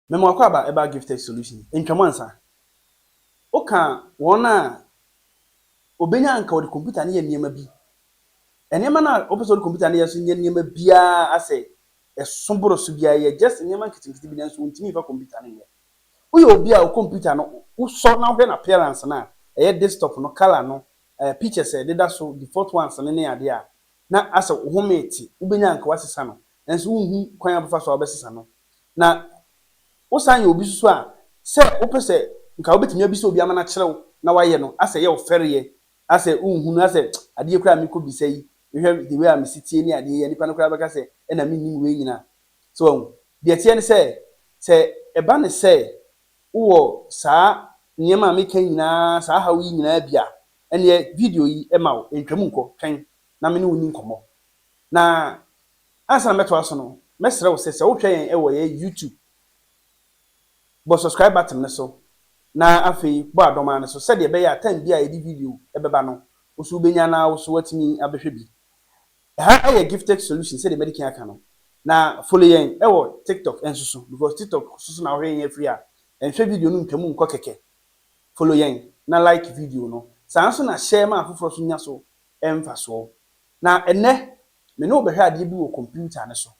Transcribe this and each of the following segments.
Mema w'akwaaba ɛbaa Gifted Solutions, Ntwam Ansa. Woka wɔn a, obenya anka wɔde computer no yɛ nneɛma bi. Nneɛma no a wopɛ sɛ wɔde computer no yɛ nso nyɛ nneɛma biara asɛ ɛso boro so biara, ɛyɛ just nneɛma nketenkete bi nanso wontumi mfa computer no nyɛ. Woyɛ obi a wo computer no wosɔ na wohwɛ n'appearance no a, ɛyɛ desktop no, colour no, eh, pictures a ɛdeda so, default ones no ne adeɛ a, na asɛ wo home te, wobɛnya anka woasesa no, nanso wonhu kwan a wobɛfa so a wobɛsesa no. Na wosan yɛ obi nso so a, sɛ wopɛ sɛ nka wobɛtumi abisa obi ama no akyerɛ wo na woayɛ no, asɛ ɛyɛ wo fɛreɛ, asɛ wonhu no, asɛ adeɛ koraa a mekɔbisa yi, mehwɛ the way a mesi teɛ ne adeɛ yi a, nnipa no koraa bɛka sɛ ɛna mennim wei nyinaa. So wahu? Deɛ ɛteɛ ne sɛ, sɛ ɛba ne sɛ wowɔ saa nneɛma a meka yi nyinaa, saa haw yi nyinaa bi a, Ɛnneɛ video yi ma wo ntwam nkɔ, twɛn na me ne wo nni nkɔmmɔ. Na ansa na mɛtoa so no, mɛsrɛ wo sɛ, sɛ wohwɛ yɛn wɔ yɛn YouTube, bɔ subscribe button no so na afei bɔ adɔmaa no so sɛdeɛ ɛbɛyɛ a time biara a yɛde video bɛba no, wo nso wobɛnya na wo nso woatumi abɛhwɛ bi. Ɛha yɛ Giftex Solutions sɛdeɛ Madikan aka no. Na follow yɛn wɔ TikTok nso so because TikTok nso so na wohwɛ yɛn afiri a, nhwɛ video no ntwam nkɔ kɛkɛ. Follow yɛn na like video no. Saa ara nso na share ma afoforɔ nso nya so mfasoɔ. Na ɛnnɛ, me ne wo bɛhwɛ adeɛ bi wɔ computer no so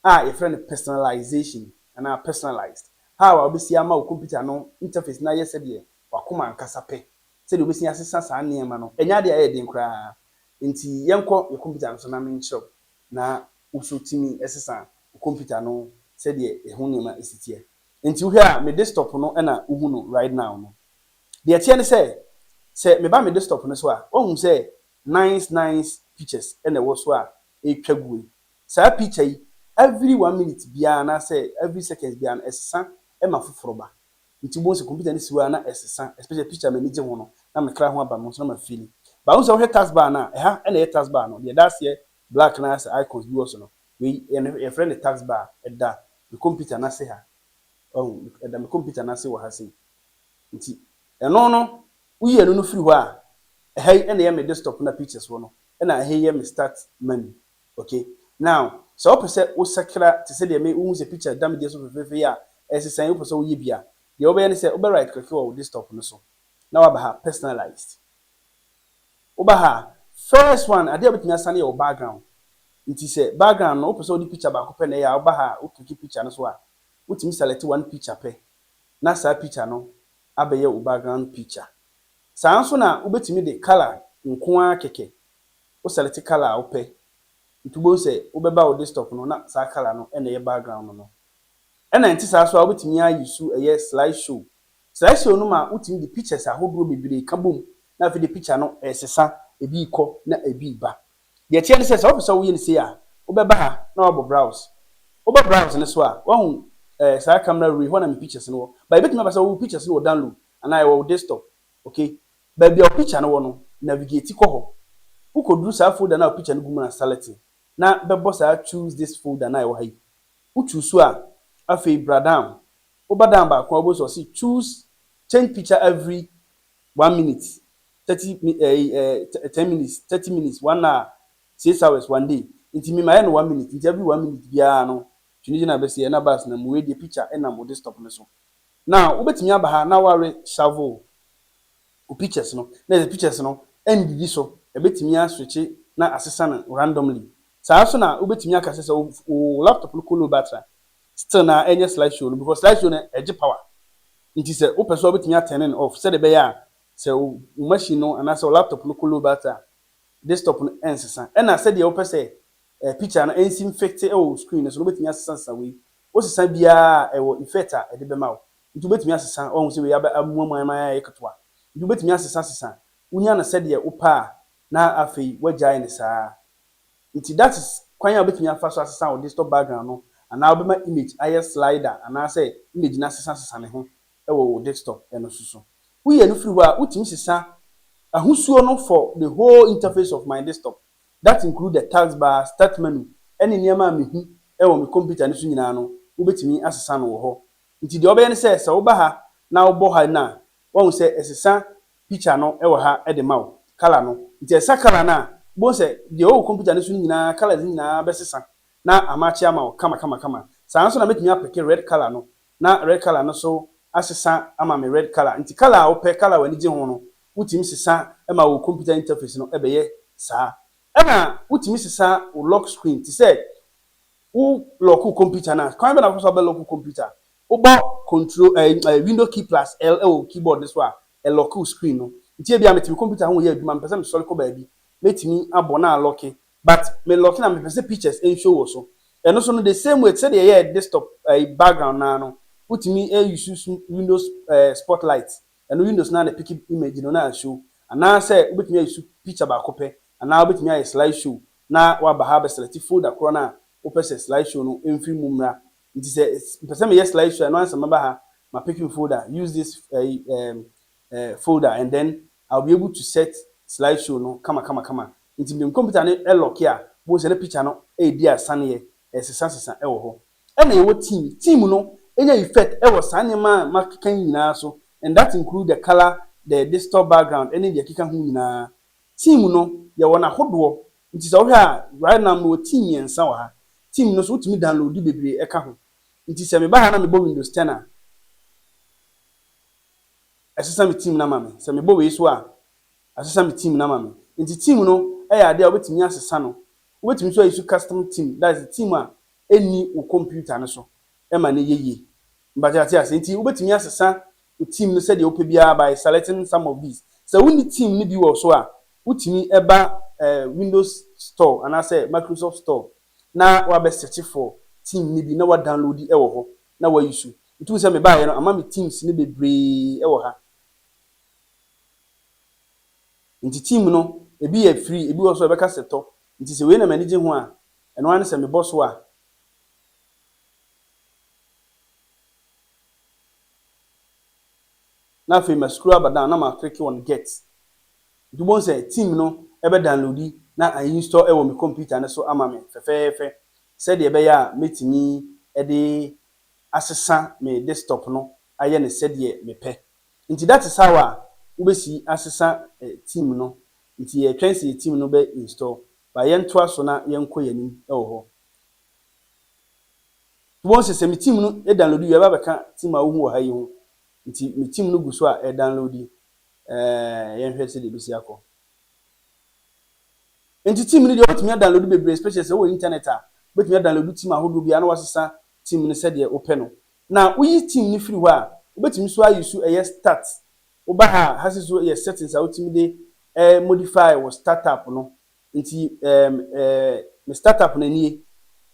a yɛfrɛ no personalization anaa personalized, how a wobɛsi ama wo computer no interface no ayɛ sɛdeɛ w'akoma ankasa pɛ, sɛdeɛ wobɛsi asesa saa nneɛma no. Ɛnyɛ adeɛ a ɛyɛ den koraa, nti yɛnkɔ yɛ computer no so na menkyerɛ wo na wo nso tumi sesa wo computer no sɛdeɛ ɛho nneɛma si teɛ. Nti wohwɛ a me desktop no na wohu no right now no. Deɛ ɛteɛ ne sɛ, sɛ meba me desktop no so a, woahu sɛ nice nice pictures na ɛwɔ so a ɛretwa guo yi. Saa picture yi, every one minute biara anaasɛ every seconds biara no, ɛsesa ma foforɔ ba. Nti wobɛhu sɛ computer no si hɔ ara na ɛsesa, especially picture a m'ani gye ho no, na me kra ho aba me ho nso na ma feeli. But wohu sɛ wohwɛ taskbar no a, ɛha na ɛyɛ taskbar no, deɛ ɛda aseɛ black no ara sɛ icons bi wɔ so no, Wei yɛ no yɛfrɛ no task bar, ɛda me kɔmputa no ase ha. Wahu? Ɛda me kɔmputa no ase wɔ ha sei. Nti, ɛno no, woyi ɛno no firi hɔ a, ɛha yi na ɛyɛ me desktop na pictures wɔ no, ɛna ɛha yi yɛ me start menu. Okay? Now, sɛ wopɛ sɛ wosakra te sɛ deɛ me, wohu sɛ picture da me deɛ so fefeefe yi a, ɛresesa yi, wopɛ sɛ woyɛ bi a, deɛ wobɛyɛ ne sɛ, wobɛ right click wɔ wo desktop no so, na woaba ha, personalized. Woba ha a, first one, adeɛ a wobɛtumi asane yɛ wo background. Nti sɛ background no wopɛ sɛ wode picture baako pɛ na ɛyɛ a, woba ha a wo click picture no so a, wotumi select one picture pɛ na saa picture no abɛyɛ wo background picture. Saa nso na wobɛtumi de colour nko ara kɛkɛ, wo select colour a wopɛ. Nti wobɛhu sɛ wobɛba wo desktop no na saa colour no na ɛyɛ background no. Ɛna ɛnte saa nso a wobɛtumi ayi su ɛyɛ slide show Slideshow no ma wotumi de pictures ahodoɔ bebree ka bom na afei de picture no resesa, ebi rekɔ na ebi reba. Deɛ ɛteɛ ne sɛ, sɛ wopɛ sɛ woyɛ no sei a, wobɛba ha na woabɔ Browse. Wobɔ Browse no so a, woahu eh, saa camera roll yi, hɔ na me pictures no wɔ. But ɛbɛtumi aba sɛ wo pictures no wɔ download anaa ɛwɔ wo desktop. Ok, baabi a wo picture no wɔ no, navigate kɔ hɔ. Wokɔduru saa folder no a wo picture no gu mu no a, select na bɛbɔ saa Choose this folder no a ɛwɔ ha yi. Wo choose a, afei bra down Woba dan baako a, wobɛhu sɛ ɔse choose change picture every one minute, thirty mi ɛyi ɛɛ ten minutes, thirty minutes, one hour, six hours, one day. Nti me mayɛ no one minute, nti every one minute biara no Twene gyina bɛse ɛna bus nam mu, wei deɛ picture ɛnam wo desktop no so. Na wobɛtumi aba ha na woare shovel wo pictures no, na ɛsɛ pictures no ɛndidi so, ɛbɛtumi aswitche na asesa no randomly Saa ara nso na wobɛtumi aka sɛ sɛ wo wo laptop no kɔ low battery a, still na ɛnyɛ slide show no because slide show no ɛgye power. Nti sɛ wopɛ so a wobɛtumi a turn no off sɛdeɛ ɛbɛyɛ a sɛ wo wo machine no anaasɛ wo laptop no kɔ low battery a desktop no ɛnsesa. Ɛna sɛdeɛ wopɛ sɛ eh picture no ɛnsi mfekte wɔ wo screen no so no wobɛtumi asesa sesa wei. Wosesa biara a ɛwɔ effect a ɛde bɛma wo. Nti wobɛtumi asesa woahu sɛ wei abɛ amuamua ama ayɛ ketewa. Nti wobɛtumi asesa sesa wonya no sɛdeɛ wopɛ a na afei woagyae no saa ara. Nti that is kwan a wobɛtumi afa so asesa wo desktop background no anaa wobɛma image ayɛ slider anaasɛ image no asesa sesa ne ho wɔ wo desktop no so so. Woyɛ no firi hɔ a wotumi sesa ahosuo no for the whole interface of my desktop that include the taskbar, start menu ɛne nneɛma a mehu wɔ me computer no so nyinaa no wobɛtumi asesa no wɔ hɔ. Nti deɛ wobɛyɛ ne sɛ, sɛ woba ha na wobɔ ha no a wahu sɛ ɛsesa picture no wɔ ha de ma wo, colour no. Nti ɛsa colour no a, wobɛhu sɛ deɛ ɔwɔ computer no so no nyinaa colours no nyinaa bɛsesa na amatche ama wo kama kama kama. Saa nso na mɛtumi apeke red colour no na red colour no nso asesa ama me red colour. Nti colour a wopɛ, colour a w'ani gye ho no, wotumi sesa ma wo computer interface no bɛyɛ saa. Ɛna wotumi sesa wo lock screen, te sɛ wo lock wo computer no a, kwan bɛn na wobɛfa so abɛ lock wo computer? Wobɔ Control, ɛɛ, ɛɛ, Window key plus L wɔ wo keyboard no so a, ɛlɔke wo screen no. Nti ebia mete me computer ho reyɛ adwuma, mepɛ sɛ mesɔre kɔ baabi, mɛtumi abɔ na alɔke, but melɔke no a, mepɛ sɛ pictures nshow wɔ so. Ɛno nso no, the same way, te sɛ deɛ yɛyɛɛ desktop, ɛɛ, background no ara no, wotumi use Windows, ɛɛ, Spotlight, ɛno Windows no ara na ɛpeke image no na ashow. Anaasɛ wobɛtumi a use picture baako pɛ, anaa wobɛtumi ayɛ slideshow na woaba ha abɛselɛkte folder korɔ no a wopɛ sɛ slideshow no mfiri mu mmra Nti sɛ mpɛ sɛ meyɛ slide show a, ɛno ara sɛ mɛba ha, ma pick me folder, use this ɛyi ɛɛm ɛɛ folder and then I will be able to set slide show no kama kama kama. Nti me computer no ɛlɔke a, bohu sɛ na picture no ɛɛdi asaneɛ, ɛɛsesa sesa ɛwɔ hɔ. Ɛna yɛwɔ team, team no ɛnya effect ɛwɔ saa nneɛma a makeka yi nyinaa so and that include the colour, the digital background ɛne deɛ ɛkeka ho nyinaa. Team no yɛwɔ no ahodoɔ, Nti sɛ wohwɛ a right now mewɔ team mmiɛnsa wɔ ha. Team no so wotumi downloadi bebree ɛka ho. Nti sɛ meba ha na mebɔ windows ten a ɛsesa me team no ama me. Sɛ mebɔ wei so a asesa me team no ama me. Nti team no ɛyɛ adeɛ a wobɛtumi asesa no. Wobɛtumi nso ayi so custom team that is team a ɛnni wo computer no so. ma no yɛ yie. Mepakyɛ wate aseɛ? Nti wobɛtumi asesa wo team no sɛdeɛ wopɛ biara by selecting some of these. Sɛ wonni team no bi wɔ so a, wotumi ba Windows store anaasɛ Microsoft store na wabɛ search for team no bi na wa download wɔ hɔ na wa use. Nti wohu sɛ mebaeɛ no ama me teams no bebree wɔ ha. Nti team no ebi yɛ free, ebi wɔ so a ɛbɛka sɛ tɔ. Nti sɛ wei na m'ani gye ho a, ɛno ara ne sɛ mebɔ so a. Na afei ma scroll aba down na ma click on get. Nti wobɛhu sɛ theme no bɛ downloadi na a install wɔ me computer no so ama me fɛfɛɛfɛ sɛdeɛ ɛbɛyɛ a mɛtumi de asesa me desktop no ayɛ no sɛdeɛ me pɛ. Nti that is how a wobɛsi asesa theme no. Nti yɛtwɛn sɛ yɛ theme no bɛ install. But yɛntoa so na yɛnkɔ yɛn anim wɔ hɔ. Wobɛhu sɛ sɛ me team no download wie a ɛba bɛka team a wohu wɔ ha yi ho. Nti me team no gu so a ɛredownload. Ɛɛ yɛnhwɛ sɛdeɛ ɛbɛsi akɔ. Nti team no deɛ wobɛtumi adownload bebree especially sɛ wowɔ internet a wobɛtumi adownload team ahodoɔ biara na wasesa team no sɛdeɛ wopɛ no. Na woyi team no firi hɔ a wobɛtumi so ayi so ɛyɛ start. Woba ha a ha si so yɛ settings a wotumi de modify wɔ startup no. Nti ɛɛm ɛɛ me startup no nie,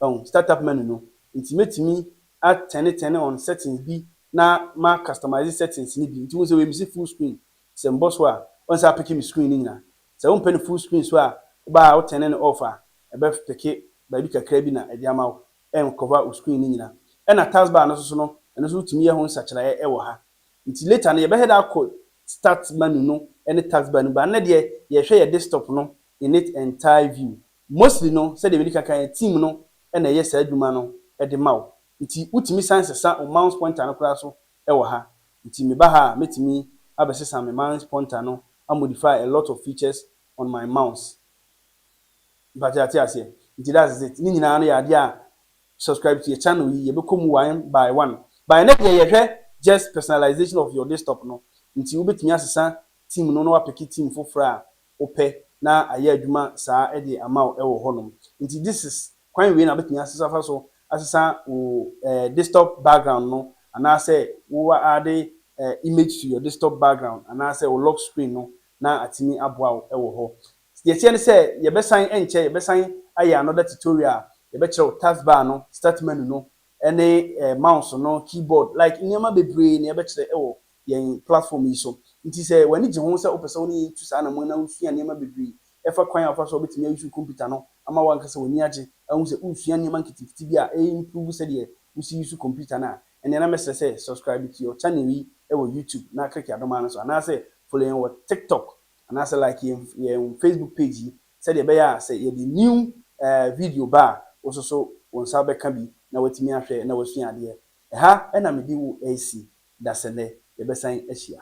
wahu, startup menu no. Nti mɛtumi a turne turne on settings bi na ma customise settings no bi. Nti wohu sɛ wei mese full screen, sɛ mebɔ so a wohu sɛ apeke me screen no nyinaa. Sɛ wompɛ no full screen nso a, woba a wo turne no off a, ɛbɛpeke baabi kakra bi na ɛde ama wo, ɛncover wo screen no nyinaa. Ɛna taskbar no nso so no, ɛno nso wotumi yɛ ho nsakyeraeɛ wɔ ha. Ntsi later no yɛbɛhwɛ dɛ akɔ start manu no ne task bar no mu but ndɛ deɛ yɛhwɛ yɛ desktop no in it entire view. Mostly no sɛdeɛ medi kan kae no team no na ɛyɛ saa adwuma no de ma wo ntsi wotumi san sesa wo mouse pointer no koraa so wɔ ha. Ntsi meba ha a mɛtumi abɛsesa me mouse pointer no a modify a lot of features on my mouse. Mpakyɛ yɛate aseɛ? Ntsi that's it. Ne nyinaa no yɛ adeɛ a Subscribe to yɛ channel yi yɛbɛkɔ mu one by one but ɛnɛ deɛ yɛhwɛ just personalization of your desktop no nti wobɛtumi asesa theme no na wapeke theme foforɔ a wopɛ na ayɛ adwuma saa de ama wo wɔ hɔ nom nti this is kwan wei na wobɛtumi asesa afa so asesa wo desktop background no anaasɛ wo aade image to your desktop background anaasɛ wo lock screen no na atumi aboa wo wɔ hɔ Sɛ yɛteɛ no sɛ yɛbɛsan ɛnkyɛ yɛbɛsan ayɛ another tutorial a, yɛbɛkyerɛw task bar no, start menu no, ɛne mouse no, keyboard, like nneɛma bebree na yɛbɛkyerɛ ɛwɔ yɛn platform yi so. Nti sɛ w'ani gye ho sɛ wopɛ sɛ wo ne yɛn tu saa anammɔn yi na wosua nneɛma bebree ɛfa kwan a wofa so a wobɛtumi ayusu computer no ama w'ankasa w'ani agye ahu sɛ woresua nneɛma nketenkete bi a ɛyɛ improve sɛdeɛ wosi yusu computer no a, ɛneɛ na mɛsrɛ sɛ subscribe to your channel yi ɛwɔ YouTube na click adoma no so anaasɛ follow yɛn wɔ TikTok. anaasɛ like yɛn yɛn Facebook page yi sɛdeɛ ɛbɛyɛ a sɛ yɛde new eh, video ba a wo nso so wo nsa bɛka bi na watumi ahwɛ na wasua adeɛ. Ɛha na mede wo resi dasɛ nnɛ, yɛbɛsan ahyia.